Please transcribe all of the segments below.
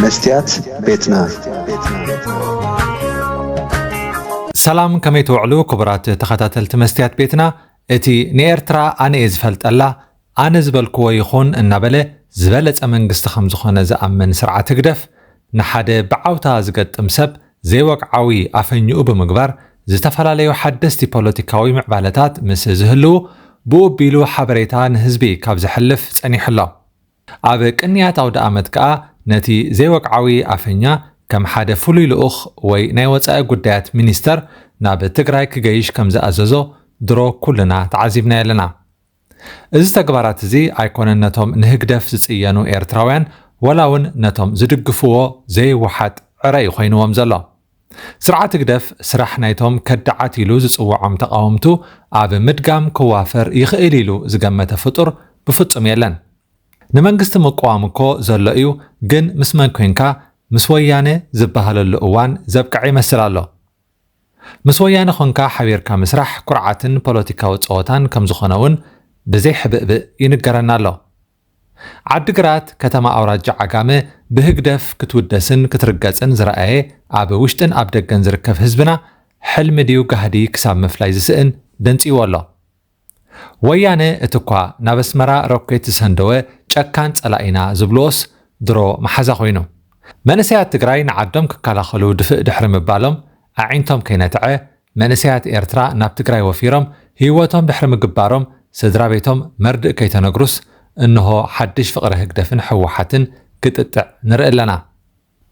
መስትያት ቤትና ሰላም ከመይ ትውዕሉ ክቡራት ተኸታተልቲ መስትያት ቤትና እቲ ንኤርትራ ኣነ እየ ዝፈልጠላ ኣነ ዝበልክዎ ይኹን እናበለ ዝበለጸ መንግስቲ ከም ዝኾነ ዝኣምን ስርዓት ህግደፍ ንሓደ ብዓውታ ዝገጥም ሰብ ዘይወግዓዊ ኣፈኝኡ ብምግባር ዝተፈላለዩ ሓደስቲ ፖለቲካዊ ምዕባለታት ምስ ዝህልዉ ብኡ ኣቢሉ ሓበሬታ ንህዝቢ ካብ ዘሕልፍ ጸኒሑ ኣሎ። ኣብ ቅንያት ኣውደኣመት ከኣ ነቲ ዘይወግዓዊ ኣፈኛ ከም ሓደ ፍሉይ ልኡኽ ወይ ናይ ወጻኢ ጉዳያት ሚኒስተር ናብ ትግራይ ክገይሽ ከም ዝኣዘዞ ድሮ ኩልና ተዓዚብናዮ ኣለና። እዚ ተግባራት እዚ ኣይኮነን ነቶም ንህግደፍ ዝጽየኑ ኤርትራውያን ወላ ውን ነቶም ዝድግፍዎ ዘይወሓጥ ዕረ ዩ ኮይንዎም ዘሎ። ስርዓት ህግደፍ ስራሕ ናይቶም ከዳዓት ኢሉ ዝጽውዖም ተቓወምቱ ኣብ ምድጋም ክዋፈር ይኽእል ኢሉ ዝገመተ ፍጡር ብፍጹም የለን። ንመንግስቲ ምቅዋም እኮ ዘሎ ዩ ግን ምስ መን ኮንካ ምስ ወያነ ዝባሃለሉ እዋን ዘብቀዐ ይመስል ኣሎ። ምስ ወያነ ኮንካ ሓቢርካ ምስራሕ ኩርዓትን ፖለቲካዊ ጸወታን ከምዝኾነ ውን ብዘይ ሕብእብእ ይንገረና ኣሎ። ዓዲ ግራት ከተማ ኣውራጃ ዓጋመ ብህግደፍ ክትውደስን ክትርገጽን ዝረኣየ ኣብ ውሽጥን ኣብ ደገን ዝርከብ ህዝብና ሕልሚ ድዩ ጋህዲ ክሳብ ምፍላይ ዝስእን ደንጽዩዎ ኣሎ። ወያነ እቲኳ ናብ ኣስመራ ሮኬት ዝሰንደወ ጨካን ጸላኢና ዝብልዎስ ድሮ መሓዛ ኮይኑ። መንእሰያት ትግራይ ንዓዶም ክከላኸሉ ድፍእ ድሕሪ ምባሎም ኣዒንቶም ከይነትዐ መንእሰያት ኤርትራ ናብ ትግራይ ወፊሮም ህይወቶም ድሕሪ ምግባሮም ስድራቤቶም መርድእ ከይተነግሩስ እንሆ ሓድሽ ፍቕሪ ህግደፍን ህወሓትን ክጥጥዕ ንርኢ ኣለና።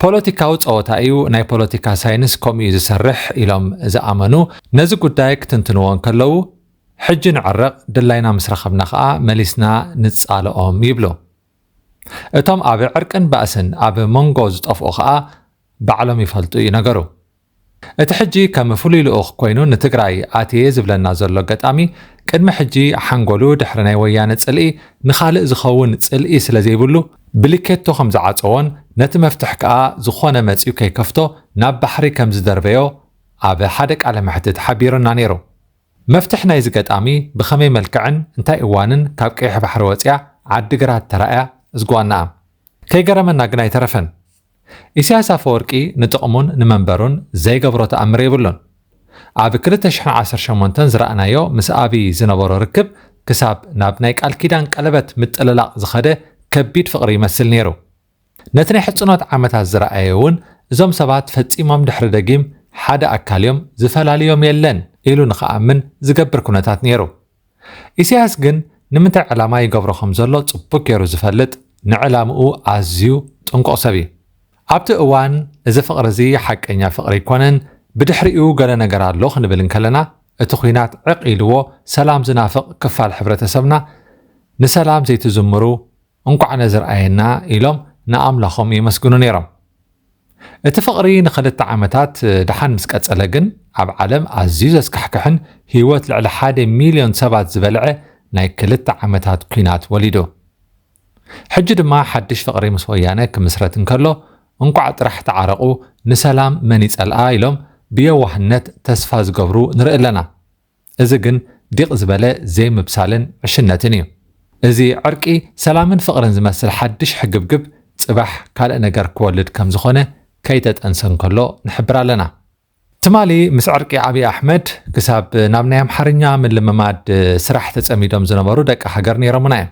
ፖለቲካዊ ፀወታ እዩ፣ ናይ ፖለቲካ ሳይንስ ከምኡ እዩ ዝሰርሕ ኢሎም ዝኣመኑ ነዚ ጉዳይ ክትንትንዎ እንከለዉ ሕጂ ንዕረቕ ድላይና ምስ ረኸብና ከኣ መሊስና ንፃልኦም ይብሉ። እቶም ኣብ ዕርቅን ባእስን ኣብ መንጎ ዝጠፍኡ ከኣ ባዕሎም ይፈልጡ እዩ ነገሩ። እቲ ሕጂ ከም ፍሉይ ልኡኽ ኮይኑ ንትግራይ ኣትየ ዝብለና ዘሎ ኣጋጣሚ፣ ቅድሚ ሕጂ ሓንጎሉ ድሕሪ ናይ ወያነ ጽልኢ ንኻልእ ዝኸውን ጽልኢ ስለዘይብሉ ብሊኬቶ ከምዝዓጸዎን ነቲ መፍትሕ ከኣ ዝኾነ መጺኡ ከይከፍቶ ናብ ባሕሪ ከምዝደርበዮ ኣብ ሓደ ቃለ መሕትት ሓቢሩና ነይሩ። መፍትሕ ናይዚ ገጣሚ ብኸመይ መልክዕን እንታይ እዋንን ካብ ቀይሕ ባሕሪ ወጺኣ ዓዲ ግራት ተራእያ እዝጓናኣ ከይገረመና ግን ኣይተረፈን። ኢሳያስ ኣፈወርቂ ንጥቕሙን ንመንበሩን ዘይገብሮ ተኣምር የብሉን። ኣብ ክልተ ሽሕን ዓሰርተ ሸሞንተን ዝረኣናዮ ምስ ኣብይ ዝነበሮ ርክብ ክሳብ ናብ ናይ ቃል ኪዳን ቀለበት ምጥልላቕ ዝኸደ ከቢድ ፍቕሪ ይመስል ነይሩ። ነቲ ናይ ሕጽኖት ዓመታት ዝረኣየ እውን እዞም ሰባት ፈጺሞም ድሕሪ ደጊም ሓደ ኣካል እዮም ዝፈላልዮም የለን ኢሉ ንክኣምን ዝገብር ኩነታት ነይሩ። ኢሳያስ ግን ንምንታይ ዕላማ ይገብሮ ከም ዘሎ ጽቡቅ ጌሩ ዝፈልጥ ንዕላምኡ ኣዝዩ ጥንቁቅ ሰብ እዩ። ኣብቲ እዋን እዚ ፍቅሪ እዚ ሓቀኛ ፍቅሪ ኣይኮነን ብድሕሪኡ ገለ ነገር ኣሎ ክንብል እንከለና እቲ ኹናት ዕቅ ኢልዎ ሰላም ዝናፍቅ ክፋል ሕብረተሰብና ንሰላም ዘይትዝምሩ እንቋዕ ነዚ ርኣየና ኢሎም ንኣምላኾም የመስግኑ ነይሮም። እቲ ፍቕሪ ንኽልተ ዓመታት ደሓን ምስ ቀጸለ ግን ኣብ ዓለም ኣዝዩ ዘስካሕክሕን ህይወት ልዕሊ ሓደ ሚልዮን ሰባት ዝበልዐ ናይ ክልተ ዓመታት ኲናት ወሊዱ። ሕጂ ድማ ሓድሽ ፍቕሪ ምስ ወያነ ክምስረት እንከሎ እንቋዕ ጥራሕ ተዓረቑ ንሰላም መን ይጸልኣ ኢሎም ብየዋህነት ተስፋ ዝገብሩ ንርኢ ኣለና። እዚ ግን ዲቕ ዝበለ ዘይምብሳልን ዕሽነትን እዩ። እዚ ዕርቂ፣ ሰላምን ፍቕርን ዝመስል ሓድሽ ሕግብግብ ጽባሕ ካልእ ነገር ክወልድ ከም ዝኾነ ከይተጠንሰ እንከሎ ንሕብር ኣለና። ትማሊ ምስ ዕርቂ ኣብይ ኣሕመድ ክሳብ ናብ ናይ ኣምሓርኛ ምልምማድ ስራሕ ተጸሚዶም ዝነበሩ ደቂ ሃገር ነይሮምና እዮም።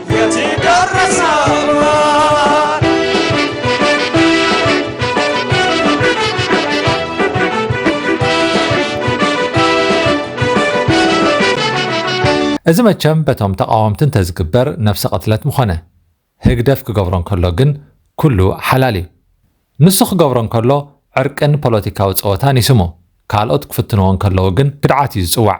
እዚ መቸም በቶም ተቓወምቲ እንተዝግበር ነብሰ ቅትለት ምኾነ። ህግደፍ ክገብሮ እንከሎ ግን ኩሉ ሓላል እዩ። ንሱ ክገብሮ እንከሎ ዕርቅን ፖለቲካዊ ጸወታን ይስሙ። ካልኦት ክፍትንዎ እንከለዉ ግን ክድዓት እዩ ዝጽዋዕ።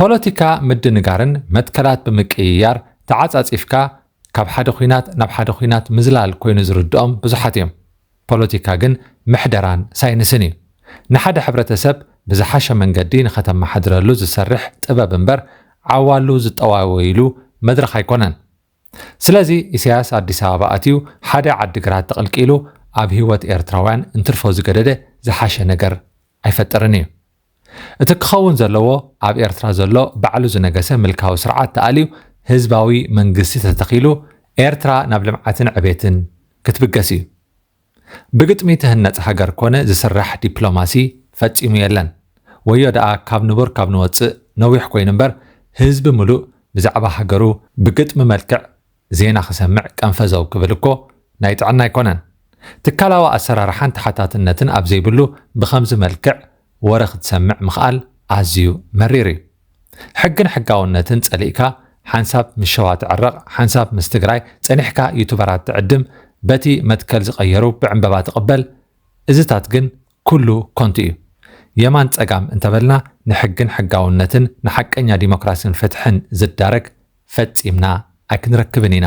ፖለቲካ ምድንጋርን መትከላት ብምቅይያር ተዓጻጺፍካ ካብ ሓደ ኹናት ናብ ሓደ ኹናት ምዝላል ኮይኑ ዝርድኦም ብዙሓት እዮም። ፖለቲካ ግን ምሕደራን ሳይንስን እዩ። ንሓደ ሕብረተሰብ ብዝሓሸ መንገዲ ንኸተመሓድረሉ ዝሰርሕ ጥበብ እምበር ዓዋሉ ዝጠዋወይሉ መድረኽ ኣይኮነን። ስለዚ ኢሳያስ ኣዲስ ኣበባ ኣትዩ ሓደ ዓዲግራት ተቕልቂሉ ኣብ ህይወት ኤርትራውያን እንትርፎ ዝገደደ ዝሓሸ ነገር ኣይፈጥርን እዩ። እቲ ክኸውን ዘለዎ ኣብ ኤርትራ ዘሎ ባዕሉ ዝነገሰ ምልካዊ ስርዓት ተኣልዩ ህዝባዊ መንግስቲ ተተኺሉ ኤርትራ ናብ ልምዓትን ዕቤትን ክትብገስ እዩ። ብግጥሚ ትህነጽ ሃገር ኮነ ዝስራሕ ዲፕሎማሲ ፈጺሙ የለን። ወዮ ደኣ ካብ ንቡር ካብ ንወጽእ ነዊሕ ኮይኑ እምበር ህዝቢ ምሉእ ብዛዕባ ሃገሩ ብግጥሚ መልክዕ ዜና ክሰምዕ ቀንፈዘው ክብል እኮ ናይ ጥዕና ኣይኮነን። ትካላዊ ኣሰራርሓን ተሓታትነትን ኣብ ዘይብሉ ብኸምዚ መልክዕ ወረ ክትሰምዕ ምኽኣል ኣዝዩ መሪር እዩ። ሕግን ሕጋውነትን ጸሊእካ ሓንሳብ ምስ ሸዋ ትዕረቕ ሓንሳብ ምስ ትግራይ ጸኒሕካ ዩቱበራት ትዕድም በቲ መትከል ዝቐየሩ ብዕንበባ ትቕበል እዚታት ግን ኩሉ ኮንቱ እዩ የማን ጸጋም እንተበልና ንሕግን ሕጋውነትን ንሓቀኛ ዲሞክራስን ፍትሕን ዝዳረግ ፈጺምና ኣይክንረክብን ኢና